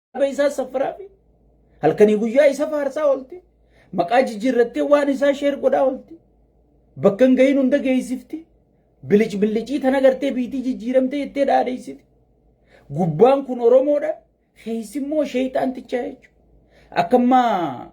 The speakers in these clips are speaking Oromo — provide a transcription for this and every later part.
kitaaba isaa saffaraa fi halkanii guyyaa isa faarsaa oolti. Maqaa jijjiirrattee waan isaa sheer godhaa oolti. Bakka hin gahin hunda geessifti. Bilic bilicii tan agartee biitii jijjiiramtee jettee dhaadheessiti. Gubbaan kun Oromoodha. Keessi immoo sheeyxaantichaa jechuudha. Akka ammaa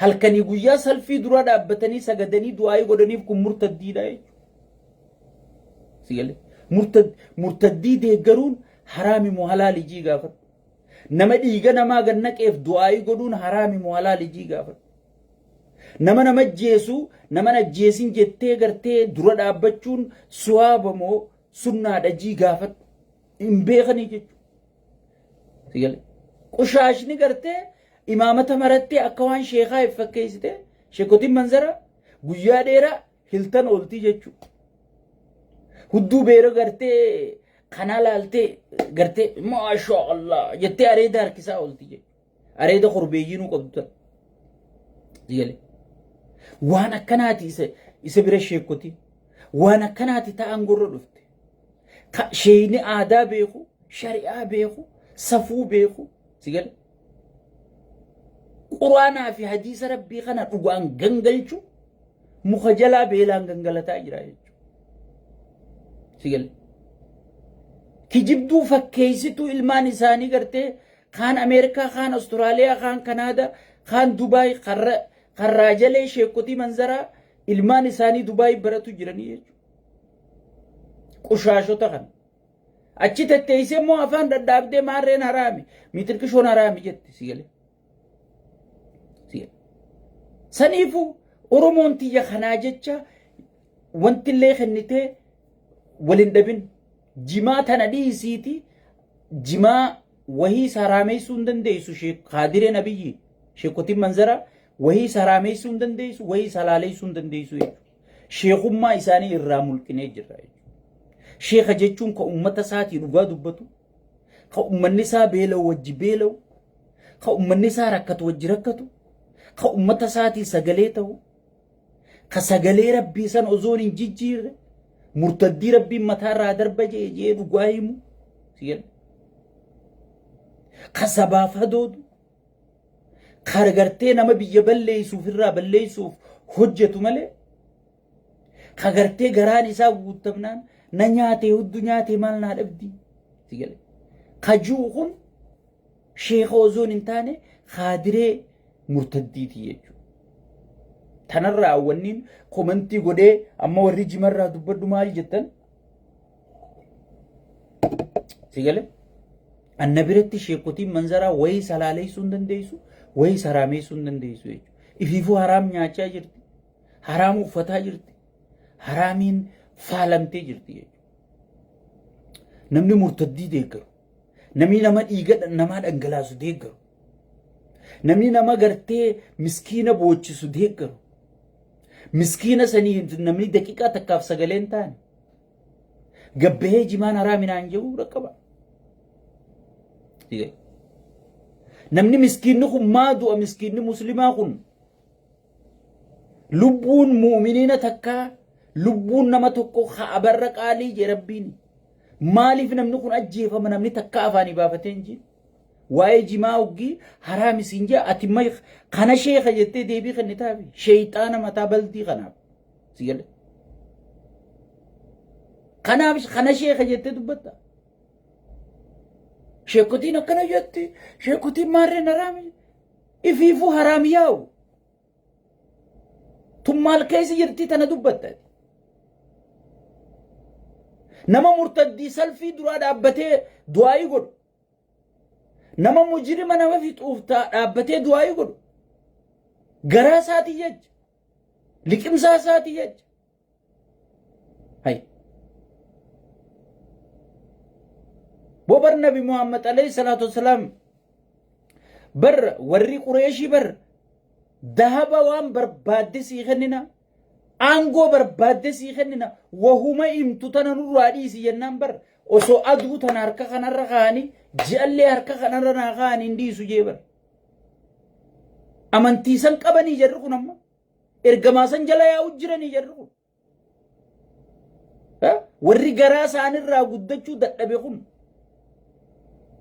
halkanii guyyaa salfii dura dhaabbatanii sagadanii du'aayii godhaniif kun murtaddiidha jechuudha. Si galee? Murtad- Murtaddii deeggaruun haraami moo halaali jii gaafadhu. Nama dhiiga namaa gad naqeef du'aayii godhuun haraami moo halaali jii gaafadhu. Nama nama ajjeesu nama ajjeesin jettee gartee dura dhaabbachuun suwaaba moo sunnaadha jii gaafadhu. Hin beekanii jechuudha. Si gale? Qushaashni gartee imaamata marattee akka waan sheekaa if fakkeessite sheekotiin manzara guyyaa dheeraa hiltan ooltii jechuu. Hudduu beera gartee kanaa laaltee gartee maashaa Allah jettee areeda harkisaa ooltii jechuu. Areeda korbeeyyii nuu qabdu tan. Sigalee. Waan akkanaati isa isa bira sheekkoti. Waan akkanaati ta'an gorra dhufte. Ka sheeyni aadaa beeku, shari'aa beeku, safuu beeku. Sigalee. Quraanaa fi hadiisa rabbii kana dhugaan gangalchu muka jalaa beelaan gangalataa jira jechuudha. Sigalee. kijibduu fakkeessituu ilmaan isaanii gartee Kaan Ameerikaa, kaan Australia, kaan Kanaada, kaan Dubai, kan ra- kan raajalee sheekkotii manzaraa ilmaan isaanii Dubai baratu jiranii jechuudha. Qushaashota kana. Achi tetteessee immoo afaan dhadhaabdee maarreen haraami, miixirqishoon haraami jette si galee. Si galee. Saniifuu Oromoon tiyya kanaa jecha wantillee kennitee wal hin dhabin. Jimaa tana dhiisiiti jimaa wahii saraameessuu hin dandeessu Sheek Kaadireen Abiyyi Sheekotiin Manzara wahii saraameessuu hin dandeessu wahii salaaleessuu hin dandeessu jechuudha. Sheekummaa isaanii irraa mulqinee jirra jechuudha. Sheeka jechuun ka ummata isaatii dhugaa dubbatu ka ummanni isaa beela'u wajji beela'u ka ummanni isaa rakkatu wajji rakkatu ka ummata isaatii sagalee ta'u ka sagalee rabbii san ozoon hin jijjiirre murtaddii rabbiin mataa irraa darba jee jee dhugaa himu si jedha ka sabaaf hadoodu ka gartee nama biyya balleessuuf irraa balleessuuf hojjetu malee ka gartee garaan isaa guuttamnaan na nyaatee huddu nyaatee maal naa dhabdi si jedha ka ji'u kun Sheeka osoon hin taane kaadiree murtaddiiti jechuudha. Tanarraa wanniin komantii godhee amma warri jimarraa dubbadhu maal jettan? Sigale? Anna biratti sheekotiin manzaraa wayii salaaleessuu hin dandeessu, wayii saraameessuu hin dandeessu jechuudha. Ifiifuu haraam nyaachaa jirti, haraam uffataa jirti, haraamiin faalamtee jirti jechuudha. Namni murtaddii deeggaru. Namni nama dhiiga namaa dhangalaasu deeggaru. Namni nama gartee miskiina boochisu deeggaru. Miskiina sanii namni daqiiqaa takkaaf sagalee hin taane. Gabbahee jimaan haraaminaan jedhu dhaqqaba. Namni miskiinni kun maa du'a miskiinni muslimaa kun lubbuun mu'miniina takkaa lubbuun nama tokko ka'abarra qaalii jee rabbiin maaliif namni kun ajjeefama namni takka afaanii baafatee hin jiru waa'ee jimaa hoggii haraam isin jee ati may kana sheeka jettee deebii kennitaafi sheeyxaana mataa baldii kanaaf si gale kanaaf kana sheeka jettee dubbatta sheekotiin akkana jetti sheekotiin maarreen haraami Ifiifuu haraam yaa'u. Tun maal keessa jirtii tana dubbattani. Nama murtaddii salfii duraa dhaabbatee du'aayii godhu. Nama mujirima nama fixuuf taa dhaabbatee du'aayii godhu. Garaa isaatii jecha. Liqimsaa isaatii jecha. hay boo bar nabi muhammad alayhi salaatu wasalaam bar warri qureeshii bar dahaba waan barbaadde sii kennina aangoo barbaadde sii kennina wahuma himtu tana nurraa dhiisi jennaan bar osoo aduu tana harka kanarra kaa'anii ji'allee harka kanarra naa kaa'anii hin dhiisu jee bar amantiisan qabanii jarri kun amma ergamaa san jala yaa'u jiranii jarri kun. Warri garaa isaanirraa guddachuu dadhabe kun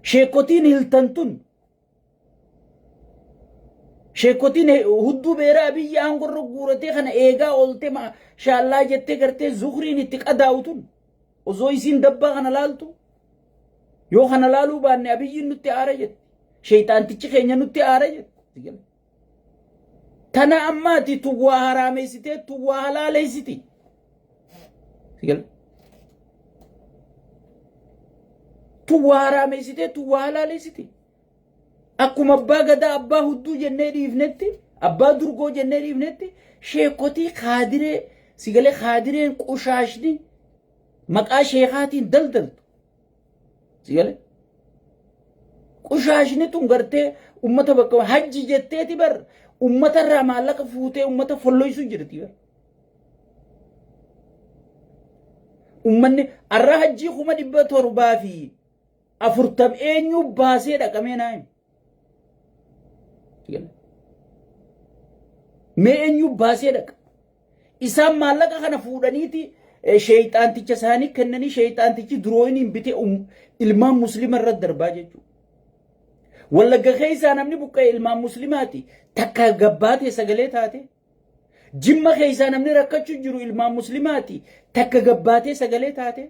sheekotiin hiltan tun sheekotiin hudduu beeraa biyya aangorra guuratee kana eegaa oolte shaallaa jettee gartee zukriin itti qadaa'u tun osoo isiin dabbaa kana laaltu yoo kana laaluu baanne abiyyiin nutti aara jette sheeyxaantichi keenya nutti aara jette. Tana amma ati tun waa haraameessitee tun waa halaaleessiti. Si gala? Tun waa haraameessitee tun waa halaaleessiti. Akkuma abbaa gadaa abbaa hudduu jennee dhiifnetti abbaa durgoo jennee dhiifnetti sheekotii kaadiree si galee kaadireen qushaashni maqaa sheekaatiin daldaltu. Si gale? Qushaashni tun gartee ummata bakka hajji jetteeti bar ummata irraa maallaqa fuutee ummata folloysu jirti bar. Ummanni arra hajjii kuma dhibba torbaa fi afurtam eenyuu baasee dhaqamee naa himi. Mee eenyu baasee dhaqa? Isaan maallaqa kana fuudhaniiti sheeyxaanticha isaanii kennanii sheeyxaantichi durooyiniin bitee ilmaan musliima irratti darbaa jechuudha. Wallagga keessaa namni buqqa'e ilmaan musliimaati takka gabbaatee sagalee taatee. Jimma keessaa namni rakkachu jiru ilmaan muslimaati takka gabbaatee sagalee taate.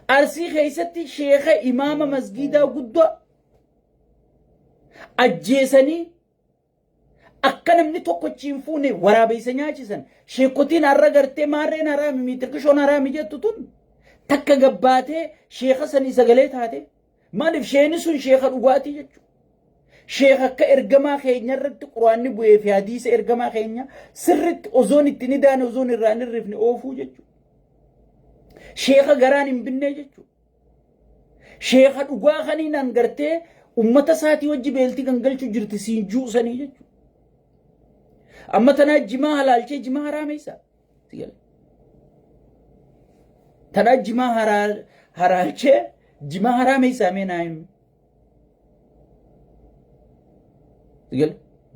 Arsii keessatti sheeka imaama masgiidaa guddaa ajjeesanii akka namni tokko hin fuune waraabeessa nyaachisan sheekotiin har'a gartee maarreen haraami miitirkishoon haraami jettu tun takka gabbaatee sheeka sanii sagalee taate Maalif sheeni sun sheeka dhugaatii jechu. Sheeka akka ergamaa keenya irratti quraanni bu'ee fi hadiisa ergamaa keenya sirritti osoon itti ni daane osoon irraa hin hirrifne oofuu jechu. Sheeka garaan hin binnee jechu. Sheeka dhugaa kaniinaan gartee ummata isaatii wajji beeltii kan galchu jirti siin juusanii jechu. Amma tanaa jimaa halaalchee jimaa haraameessaa. Tadhaa jimaa haraa haraachee jimaa haraa meessaa mee naa himi. Gal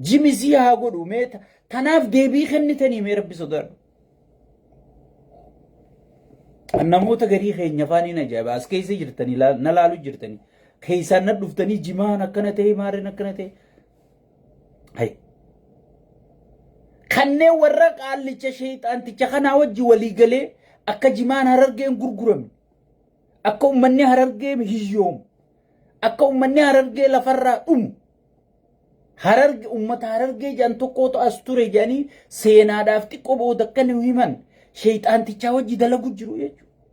jimi sii haa godhu mee ta- tanaaf deebii kennitanii mee rabbi sodaadhu. Kan namoota garii keenya afaan hin ajaa'iba as keessa jirtanii laa- na laalu jirtanii keessaan na dhuftanii jimaan akkana ta'e maarreen akkana ta'e Hay. Kanneen warra qaallicha sheeyxaanticha kanaa wajji walii galee akka jimaan harargeen gurgurame akka ummanni harargee hiyyoomu akka ummanni harargee lafarraa dhumu hararge ummata harargee jedhan tokkootu as ture jedhanii seenaadhaaf xiqqoo booda akka nu himan sheeyxaantichaa wajji dalagu jiru jechuudha.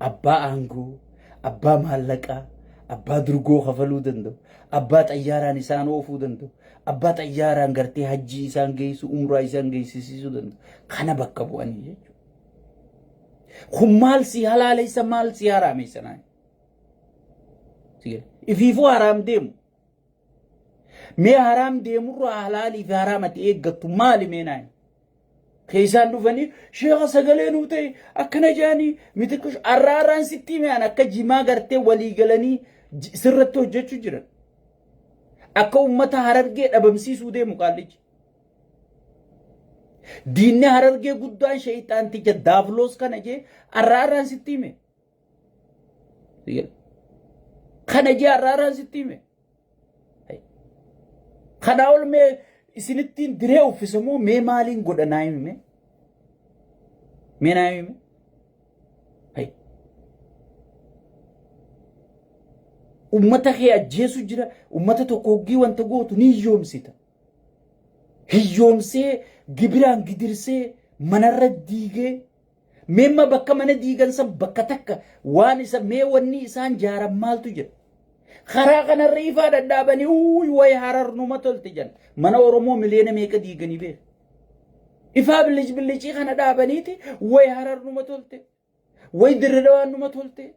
abbaa aangoo, abbaa maallaqaa, abbaa durgoo kafaluu danda'u, abbaa xayyaaraan isaan oofuu danda'u, abbaa xayyaaraan gartee hajjii isaan geessu, umraa isaan geessisiisuu danda'u. Kana bakka bu'anii jechuudha. Kun maal si halaaleessa maal si haraamessa naan? Ifiifuu haraam deemu. Mee haraam deemurraa halaalii fi haraam ati eeggattu maali mee naan? Keessaan dhufanii sheeka sagalee nuu ta'e akkana jaanii mitiqish arraa arraan sitti hime an akka jimaa gartee walii galanii j- sirratti hojjechuu jiran. Akka uummata harargee dhabamsiisuu deemu qaallichi. Diinni harargee guddaan sheeyxaanticha daavloos kana jee arraa arraan sitti hime. Kana ji'a har'aaraan sitti hime. Kana ol mee isinittiin diree uffise moo mee maaliin godha naa himi mee? Mee naa himi mee? Uummata kee ajjeesu jira, uummata tokko hoggii wanta gootu ni hiyyoomsita. Hiyyoomsee gibiraan gidirsee manarra diigee Meemma bakka mana diigan san bakka takka waan isa mee wanni isaan jaaran maaltu jira? Karaa kanarra ifaa dhadhaabanii uuy way harar numa tolti jan. Mana Oromoo miliyoona meeqa diiganii beeka? Ifaa bilic bilicii kana dhaabaniiti way harar numa tolte. Way dirridawaan numa tolte.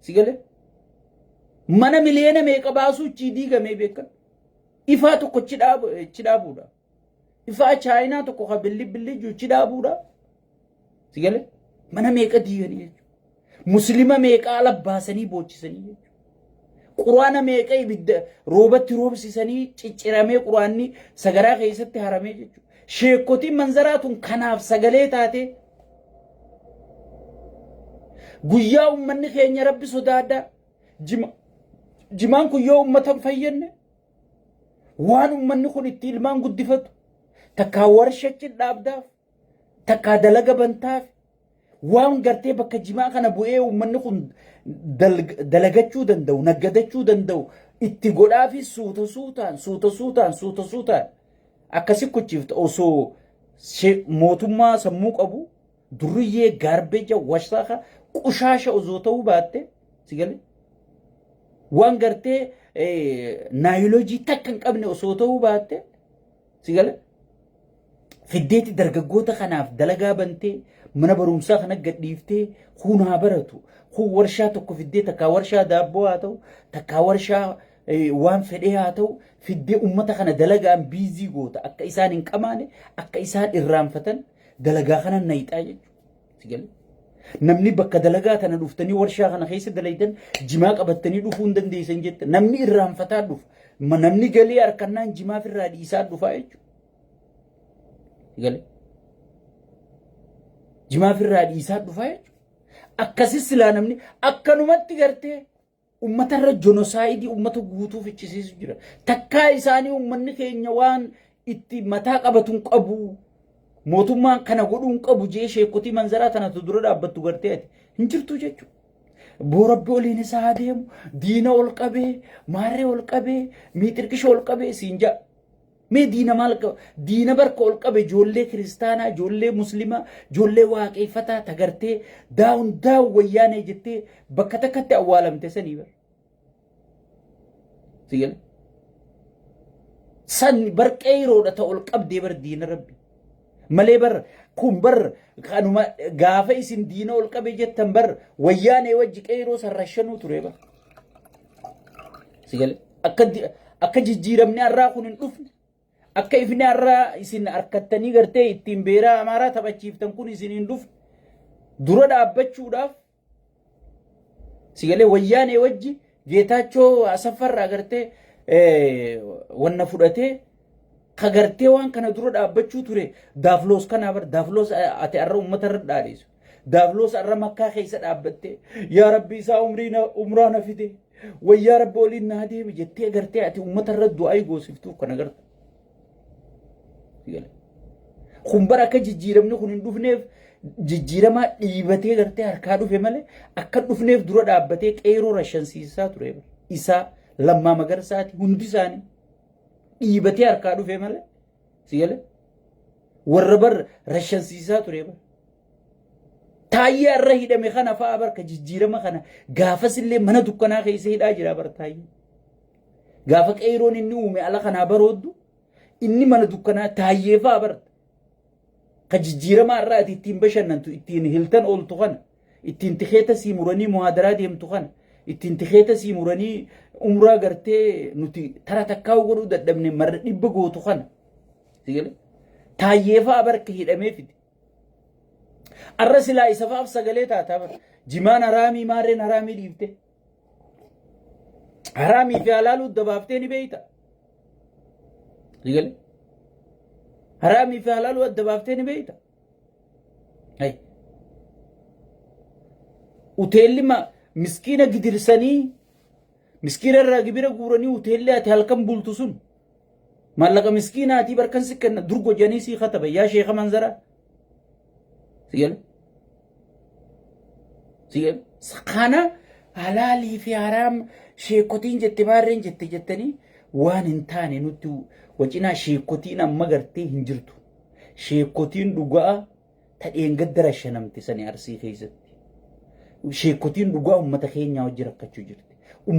Si galee? Mana miliyoona meeqa baasuu ichi diigamee beekan. Ifaa tokko ichi dhaabu- ichi dhaabuudha. Ifaa chaayinaa tokko kan billi billi jiru ichi dhaabuudha. Si galee? Mana meeqa diiganii jechuudha. Muslima meeqa ala baasanii boochisanii jechuudha. Quraana meeqa ibidda roobatti roobsisanii cicciramee quraanni sagaraa keessatti haramee jechuudha. Sheekotiin manzaraa tun kanaaf sagalee taatee Guyyaa ummanni keenya rabbi sodaadhaa. Jima, jimaan kun yoo ummata hin fayyadne waan ummanni kun itti ilmaan guddifatu takkaa warsha cidhaabdaaf takkaa dalaga bantaaf waan gartee bakka jimaa kana bu'ee ummanni kun dalg- dalagachuu danda'u naggadachuu danda'u itti godhaafi suuta suutaan suuta suutaan suuta suutaan Akka si kuchiiftu osoo she- mootummaa sammuu qabu durriyyee gaarbeeja washaaka qushaasha osoo ta'uu baatte si galee waan gartee eh, naayilojii takka hin qabne osoo ta'uu baatte si galee fiddeetti dargaggoota kanaaf dalagaa bantee mana barumsaa kana gadhiiftee kun haa baratu kun warshaa tokko fiddee takkaa warshaa daabboo haa ta'u takkaa warshaa waan fedhee haa ta'u fiddee ummata kana dalagaan biizii goota akka isaan hin qamaane akka isaan irraanfatan dalagaa kana nayixaa jechuudha. Namni bakka dalagaa tana dhuftanii warshaa kana keessa dalaydan jimaa qabattanii dhufuu hin dandeessan jetta. Namni irraanfataa dhufa. Namni galii harkannaan jimaaf irraa dhiisaa dhufaa jechuudha. Galee. Jimaaf irraa dhiisaa dhufaa jechuudha. Akkasis silaa namni akkanumatti gartee ummatarra jonosaayidii ummata guutuu fichisiisu jira. Takkaa isaanii ummanni keenya waan itti mataa qabatuun qabu mootummaan kana godhuun qabu jee sheekotii manzaraa tanatu dura dhaabbattu gartee ati hin jirtu jechuudha. Boorabbi oliin isaa haa deemu diina ol qabee maarree ol qabee miixirqisha ol qabee siin ja'a. Mee diina maal qaba? Diina barka ol qabe ijoollee kiristaanaa, ijoollee muslimaa, ijoollee waaqeeffataa tagartee daawun daawun wayyaanee jettee bakka takkatti awwaalamte sanii bar. Si gale? San bar qeeyroodha ta ol qabdee bar diina rabbi. Malee bar kun bar kanuma gaafa isin diina ol qabe jettan bar wayyaanee wajji qeeyroo san rashanuu ture bar. Sigale akka akka jijjiiramni har'aa kun hin dhufne akka ifni har'aa isin harkattanii gartee ittiin beeraa amaaraa taphachiiftan kun isin hin dhufne dura dhaabbachuudhaaf sigalee wayyaanee wajji geetaachoo asaffarraa gartee wanna fudhatee kagartee waan kana dura dhaabbachuu ture daafloos kanaa bar daafloos ati har'a uummata irra dhaadheessu. Daabloosa irra makkaa keessa dhaabbattee yaa rabbi isaa umrii na- umraa na fide wayyaa rabbi waliin naa deemi jettee gartee ati uummata irra du'aa goosiftuuf kana garta. Kun bara akka jijjiiramni kun hin dhufneef jijjiiramaa dhiibatee gartee harkaa dhufe malee akka hin dhufneef dura dhaabbatee qeeroo rashansiisaa ture. Isaa lammaa magarsaati hundi isaanii dhiibatee harkaa dhufe malee Si galee? Warra bar rashansiisaa ture bar. Taayyee har'a hidhame kana fa'a bar ka jijjiirama kana gaafas illee mana dukkanaa keessa hidhaa jira bar taayyee. Gaafa qeeroon inni uume ala kanaa barooddu inni mana dukkanaa taayyee fa'a bar. Ka jijjiirama har'a ati ittiin bashannantu ittiin hiltan ooltu kana. ittiin tikeeta sii muranii muhaadaraa deemtu kana ittiin tikeeta sii muranii umraa gartee nuti tara takkaa'u godhuu dadhabne marra dhibba gootu kana sigale taayyeefaa barka hidhamee fide arra silaa isafaaf sagalee taataa bar jimaan haraamii maarreen haraamii dhiifte haraamii fi halaaluu dabaaftee ni beeyta sigale haraamii fi halaaluu adda baaftee ni beeyta Hey. Uteelli ma- miskiina gidirsanii miskiina irraa gibira guuranii uteelli ati halkan bultu sun maallaqa miskiinaatii barkan si kenna dur gojanii sii kataba yaa sheeka manzaraa. Si gala? Si gala? Kana halaalii fi haraam sheekotiin jette maarreen jette jettanii waan hin taane nutti wacinaa sheekotiin amma gartee hin jirtu. Sheekkotiin dhugaa ta dheengadda rashanamte sani Arsii keessatti. Sheekkotiin dhugaa ummata keenyaa wajji rakkachuu jirti.